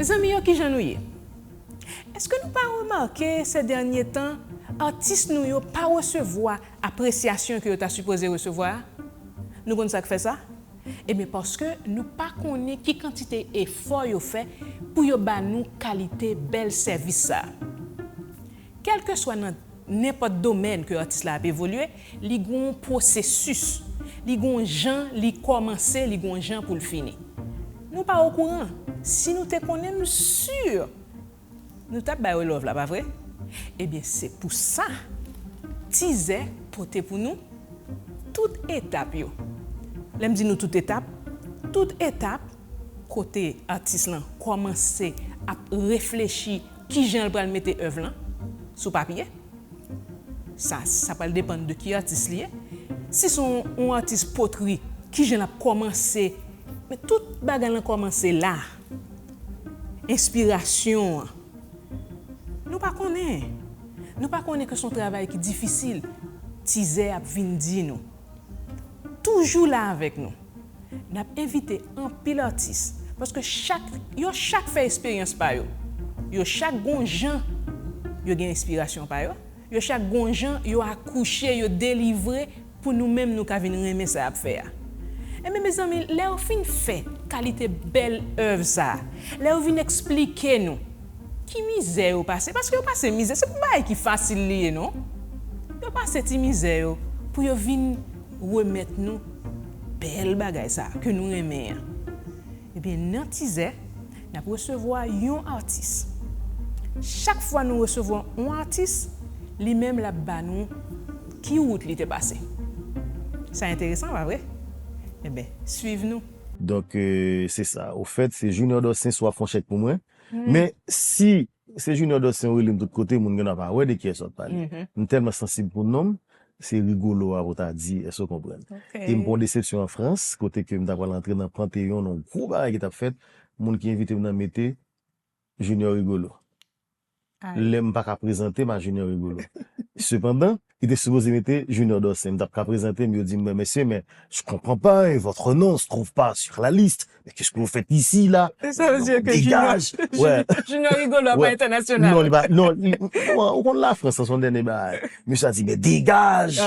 Zanmi yo kijan nou ye? Eske nou pa remake sè dènye tan atis nou yo pa resevwa apresyasyon ke yo ta sipoze resevwa a? Nou konn sak fè sa? Ebyen paske nou pa konnen ki kantite efò yo fè pou yo ba nou kalite bèl sèvis sa. Kèlkeswa nan nenpòt domèn ke atis la ap evolye, li gen yon pwosesis, li gen yon jan li kòmanse, li gen yon jan pou l fini. Nou pa okouran. Si nou te konnen, m si nou t ap ba yo love la, pa vre? Ebyen, se pou sa Tizè pote pou nou tout etap yo. Lè m di nou tout etap, tout etap. kote atis lan kòmanse ap reflechi ki jan l pral mete èv lan sou papye. Sa sa pral depann de ki atis li ye. Si se yon atis potri, ki jan l ap kòmanse. Men tout bagay lan kòmanse la. Enspirasyon an. Nou pa konnen. Nou pa konnen ke se yon travay ki difisil. Tizè ap vin di nou. Toujou la avèk nou. N ap envite anpil atis, paske chak, yo chak fè esperyans pa yo. Yo chak gon jan yo gen enspirasyon pa yo, yo chak gon jan yo akouche, yo delivre pou nou menm nou ka vin renmen sa y ap fè a. Enben mezanmi, lè yo fin fè kalite bèl èv sa a, lè yo vin esplike nou, Ki mizè yo pase? Paske yo pase mizè, se pou bagay ki fasil li ye non. Yo pase ti mizè yo pou yo vin remèt nou bèl bagay sa a ke nou renmen an. Ebyen nan tizè, n ap resevwa yon atis. Chak fwa nou resevwa yon atis, li menm l ap ba nou ki wout li te pase. Sa enteresan pa vre? Enben, swiv nou. Donk, se sa. Ofèt, se Junior Dorcens w ap fè yon chèk pou mwen. Men si se Junior Dos Sim ou rele m tout kote moun genwa pa wè de kiyès wap pale. M tèlman sansib pou non m, se Rigolo a pou w ta di, èske w konprann? E m pran yon desepsyon an Frans kote ke m ta pral antre nan panteyon nan yon gwo bagay ki tap fèt, moun ki envite m nan mete Junior Rigolo. Lè m pa ka prezante m a Junior Rigolo. Sepandan, yo te sipoze mete Junior Dorcin. M t ap ka prezante m, yo di m, men mesye, men je comprends pas, et votre nom se trouve pas sur la liste? Mais qu'est-ce que vous faites ici là? Sa vle di ke Junior Rigolo a pa entènasyonal? Non, li pa, non, ou konn Lafrans lan se yon dènye bagay. Mesye a di, men degaj!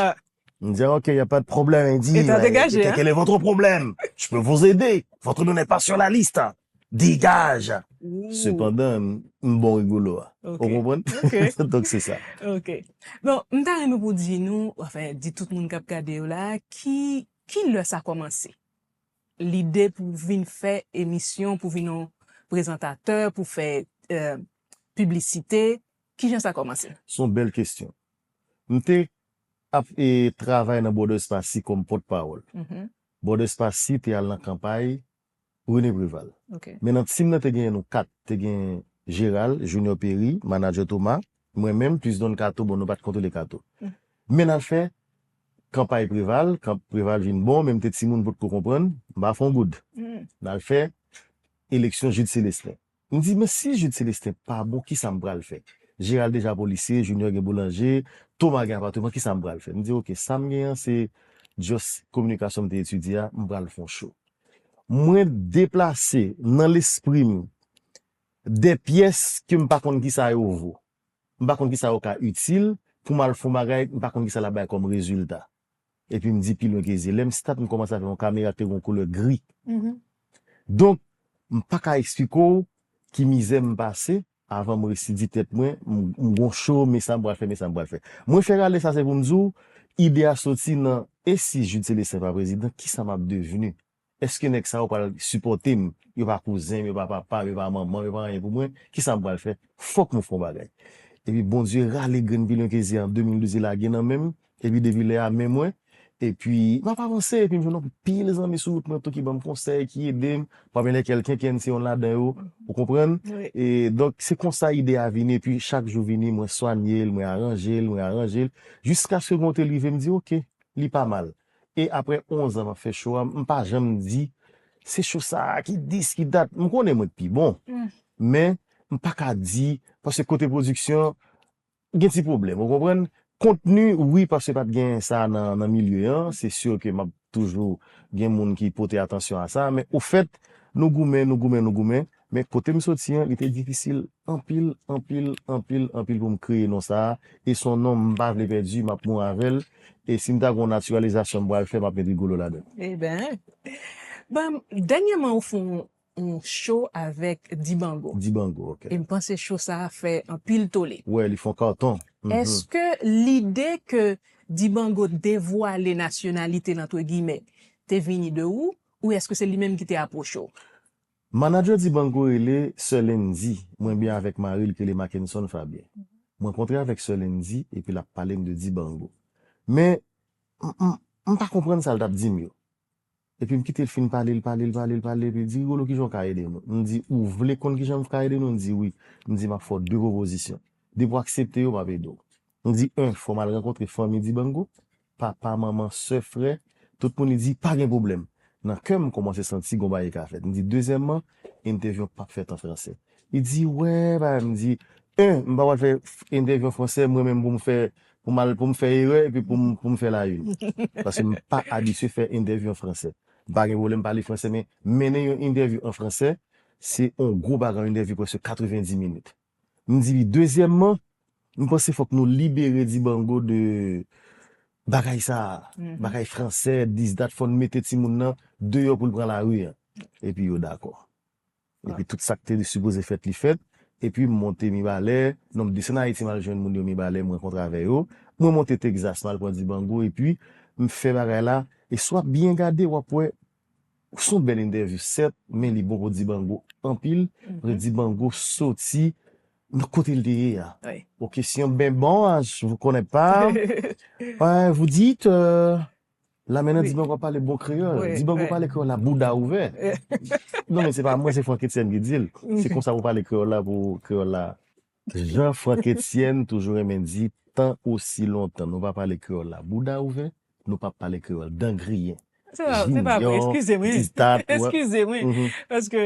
M di ok y a pas de problème il dit Eta degaje hein. Quel est votre problème? Je peux vous aider. Votre nom n'est pas sur la liste. Dégage. Sepandan m bon rigolo a. Ou konprann? Donk se sa. Ok. Bon, m ta renmen pou w di nou, anfen di tout moun k ap gade yo la, ki ki lè sa kòmanse? Lide pou w vin fè emisyon, pou w vin yon prezantatè, pou w fè piblisite, kijan sa kòmanse? S on bèl kesyon. M te Ap travay nan Bòdè Espasy kòm pòt pawòl. Bòdè Espasy te al nan kanpay René Préval. Men nan team nan te genyen nou 4, te gen Gérald, Junior Péry, Manager Thomas, mwen menm plis Don Kato, bon nou pat kontwole Kato. Men nan fè kanpay Préval, kan Préval vin bon men m te timoun m potko konprann, m pa fè yon goud. Nan fè eleksyon Jude Célestin. M di men si Jude Celestin pa bon kisa m pral fè? Gérald deja polisye, Junior gen boulanje, Thomas gen apateman kisa m pral fè? M di ok sa m gen an se just kominikasyon m te etidye a m pral fon cho. Mwen deplase nan lespri m de pyès ke m pa konn kisa yo vo. M pa konn kisa yo ka itil pou m al fon bagay m pa konn kisa l ap bay kòm rezilta. Epi m di pi lwen ke zye. Lè m start m kòmanse avè yon kamera ki te gen yon koulè gri. Donk, m pa ka esplike w ki mizè m pase avan m resi di tèt mwen m gen yon show, men sa m pral fè, men sa m pral fè. Mwen fè rale sa se pou m di w, ide a soti nan e si Jude Celestin pa prezidan, kisa m ap devni? Eske nèg sa yo pral sipòte m? Yo pa kouzen m, yo pa papa m, yo pa manman m, yo pa anyen pou mwen. Kisa m pral fè? Fòk nou fè yon bagay. Epi Bondye rale grenn pi lwen ke zye an 2012 li lage nan men m, epi depi lè a men mwen, epi m ap avanse, epi m jwenn yon pil zanmi sou wout mwen tou ki ban m konsèy, ki ede m, pami lèkèl Kenkenn se yonn ladan yo, ou konprann? E donk se konsa ide a vini, epi chak jou vini mwen swanye l, mwen aranje l, mwen aranje l, jiskaske gen yon kote l rive m di ok, li pa mal. E aprè 11 an map fè show a m pa janm di se show sa ki dis ki dat m konnen mwen k pi bon men m paka di paske kote production gen ti pwoblèm ou konprann kontni wi paske pat gen sa nan milieu an se sur ke map toujou gen moun ki pote atansyon a sa men ofèt nou goumen nou goumen nou goumen Men kote m soti an, li te difisil anpil, anpil, anpil, anpil pou m kreye non sa a, e s on non m pa vle pèdi, m ap mouri avè l, e si m ta gen yon natiralizasyon m pral fè, m ap met Rigolo ladan l. Eben, ban m, dènyèman ou fè yon cho avèk Dibango. Dibango, ok. E m panse cho sa a fè anpil tole. Wè, li fè yon karton. Èske lide ke Dibango devwale nasyonalite l antre giymen te vini de ou, ou èske se li menm ki te apwoche w? Manager Dibango rele Sè Lindy, mwen byen avèk mari l k rele Mackenson Fabien. Mwen kontre avèk Sè Lindy epi l ap pale m de Dibango. Men, m, m, m pa konprann sa l t ap di m yo. Epi m kite l fin pale, l pale, l pale, l pale, epi l di, Rigolo, kijan w ka ede nou? M di, Ou vle konn kijan m ka ede nou? L di, Wi. M di, M ap fè w de pwopozisyon. Depi w aksepte yo, m ap ede w. M di 1 fò m al rankontre fanmi Dibango, papa, manman, sè, frè, tout moun li di pa gen pwoblèm. Nan kè m m kòmanse santi gon bagay ka fèt. M di dezyèmman entèvyou an pap fèt an fransè. Li di wè pa m di 1 m pa pral fè entèvyou an fransè mwen menm pou m fè pou m al pou m fè erè epi pou m pou m fè la yn paske m pa abitye fè entèvyou an fransè. M pa gen pwoblèm pale fransè men mennen yon entèvyou an fransè se on gwo bagay yon entèvyou prèske 90 minit. M di li dezyèmman m panse fòk nou libere Dibango de bagay sa a, bagay fransè, dis dat fò n mete timoun nan deyò pou l pran lari an. Epi yo dakò. Epi tout sa k te sipoze fèt li fèt. Epi m monte Mibalè, non m desann Ayiti m al jwenn moun yo Mibalè m rankontre avè yo. Mwen monte Tegzas m al pran Dibango epi m fè bagay la e si w ap byen gade w ap wè Son bèl entèvyou sèt men li bon pou Dibango anpil paske Dibango soti nan kote li te ye a o kesyon ben bon je vous connais pas eh vous dites la menna Dibango ap pale bon kreyòl Dibango pale kreyòl la bouda ouvè non men se pa mwen se Frankétienne ki di l se konsa pou pale kreyòl la pou kreyòl la Jan Franck Etienne toujou renmen di tan osi lontan nou pa pale kreyòl la bouda ouvè nou pap pale kreyòl dan griyen. Se pa se pa vre eskize mwen eskize mwen paske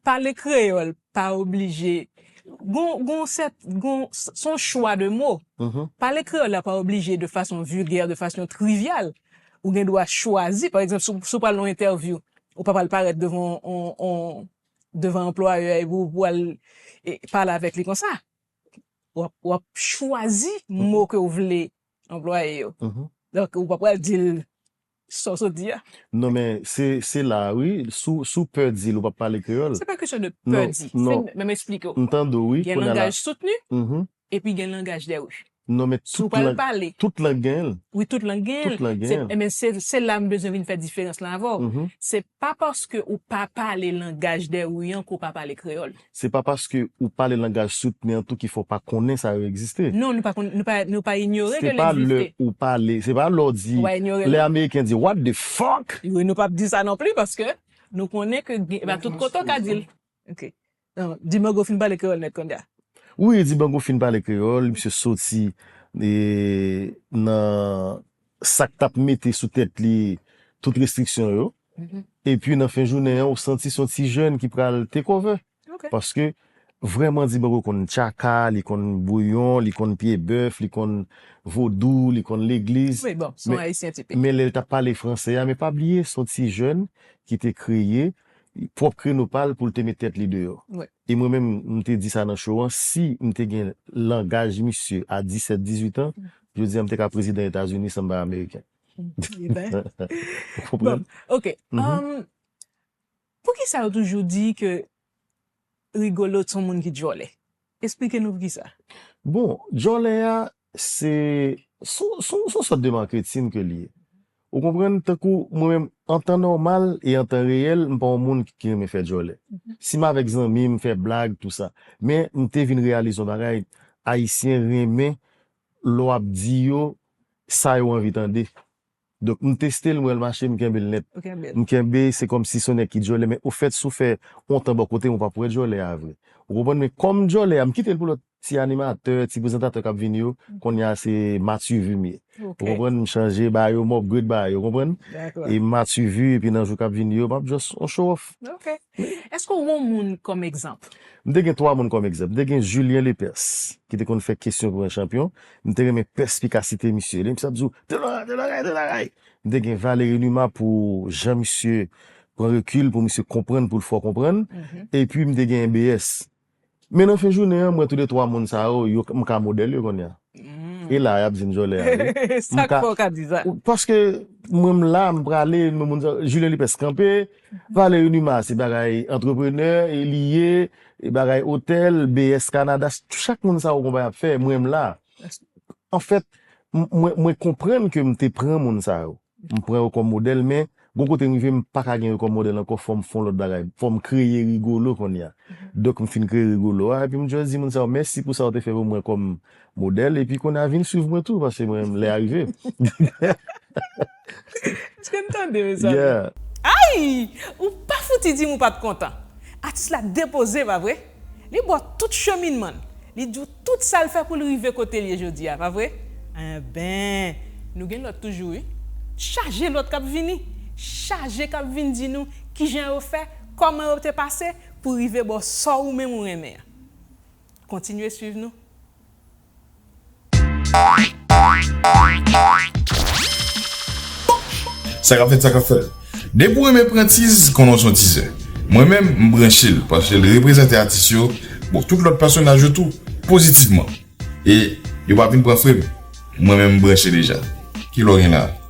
pale kreyòl pa oblije gon gon sèt gon son chwa de mo pale kreyòl la pa oblije de fason vilgè de fason trivyal ou gen dwa chwazi pa egzanp si w pral nan yon entèvyou ou pa pral parèt devan yon yon devan anplwayè a epi ou pwal pale avèk li konsa wap chwazi mo ke ou vle anplwaye yo donk ou pa pwal dil sa ou sot di a non men se la wi si ou pè dil ou pap pale kreyòl se pa kesyon de pè di se menm esplike ou gen langaj soutni epi gen langaj de ri. Non men tout lang tout lang gen l. Wi tout lang gen l. Enben se la m bezwen vin fè diferans lan avè w. Se pa paske ou pa pale langaj Dèryou an ke w pa pale kreyòl. Se pa paske ou pale langaj Soutni an tou ki fè w pa konnen sa yo egziste. Non nou pa konnen nou pa inyore ke l egziste. Se pa lè ou pale se pa lè w di lè ameriken di what the fuck. Wi nou p ap di sa non pli paske nou konnen ke pa tout kote ou ka di l. Nan, Dibango fin pale kreyòl nèt kounye a. Wi, Dibango fin pale kreyòl, misye soti nan sa k t ap mete sou tèt li tout restriksyon yo. Epi nan fen jounen an, ou santi se yon ti jèn ki pral tekove. Paske, vrèman Dibango konn tchaka, li konn bouyon, li konn pye bèf, li konn vodou, li konn legliz. Wi, bon, se yon Ayisyen tipik. Men lè l t ap pale franse a, men pa bliye, se yon ti jèn ki te kreye pwòp kreno pa l pou l te met tèt li deyò. E mwen menm, m te di sa nan show an, si m te gen langaj misye a 17, 18 an, jodi a m te ka prezidan Etazini san m pa ameriken. Ou konprann? Ok. Poukisa yo toujou di ke Rigolo t son moun ki djòlè? Esplike nou poukisa. Bon, djòlè a, Se son sòt de marketing ke li ye. Ou konprann? Tankou mwen menm, an tan nòmal e an tan reyèl, m pa yon moun ki renmen fè djòlè. Si m avèk zanmi, m fè blag, tou sa. Men, m te vin reyalize yon bagay, Ayisyen renmen lè w ap di yo sa yo anvi tande. Donk m teste l m wè l mache m kenbe l nèt. M kenbe se kòmsi se yon nèg ki djòlè men ofèt si w fè yon tan bò kote m ou pap wè djòlè a vre. Ou konprann men kòm djòlè a m kite l pou lòt ti animatè, ti prezantatè k ap vini yo konnya se Mathuvu m ye. Ou konprann m chanje ba yo m upgrade ba yo ou konprann e Mathuvu epi nan jou k ap vini yo m ap just yon show off. Èske w yon moun kòm egzanp? M te gen twa moun kòm egzanp. M te gen Julien Lepers, ki te konn fè kesyon pou yon chanpyon. M te renmen pèspikasite misye. Lè misye ap di w, Te loray, te loray, te loray! M te gen Valéry Numa pou jan misye pran rekil pou misye konprann pou l fè w konprann. Epi m te gen BS. Men nan fen jounen an m wè tou de twa moun sa yo, yo m ka modèl yo kounye a. E la a y ap di m jòlè a wi. Sa k fè w ka di sa? Paske mwen m la, m prale, m wè moun sa yo. Julien Lipes kanpe, Valery Numa se bagay antreprenè li ye, bagay otèl, BS Canada, chak moun sa yo konpa y ap fè, mwen m la. Anfèt, mwen konprann ke m te pran moun sa yo. M pran yo kòm modèl men gon kote m rive m pa ka gen yo kòm modèl ankò fò m fon lòt bagay fò m kreye Rigolo kounye a donk m fin kreye Rigolo a epi m just di moun sa yo mèsi pou sa yo te fè pou mwen kòm modèl epi kounye a vin swiv mwen tou paske mwen menm lè a rive Èske n tande mezanmi? Yeah! Ayy! Ou pa fouti di m ou pa t kontan! Atis la depoze pa vre? Li ba w tout cheminman l. Li di w tout sa l fè pou l rive kote l ye jodi a, pa vre? Enben, nou gen lòt toujou wi. Chaje lòt k ap vini. Chaje k ap vin di nou ki jan yo fè, kòman yo te pase pou rive ba w sa w ou menm ou renmen an. Kontinye suiv nou. Sa kap fèt sa kap fèt. Depi w renmen Prentice konnen w s on tizè. Mwen menm m branche l paske l reprezante atis yo, bon tout lòt pèsonaj yo tou, pozitivman. E yo pa vin pran frem. Mwen menm m branche deja. Kilè w gen la?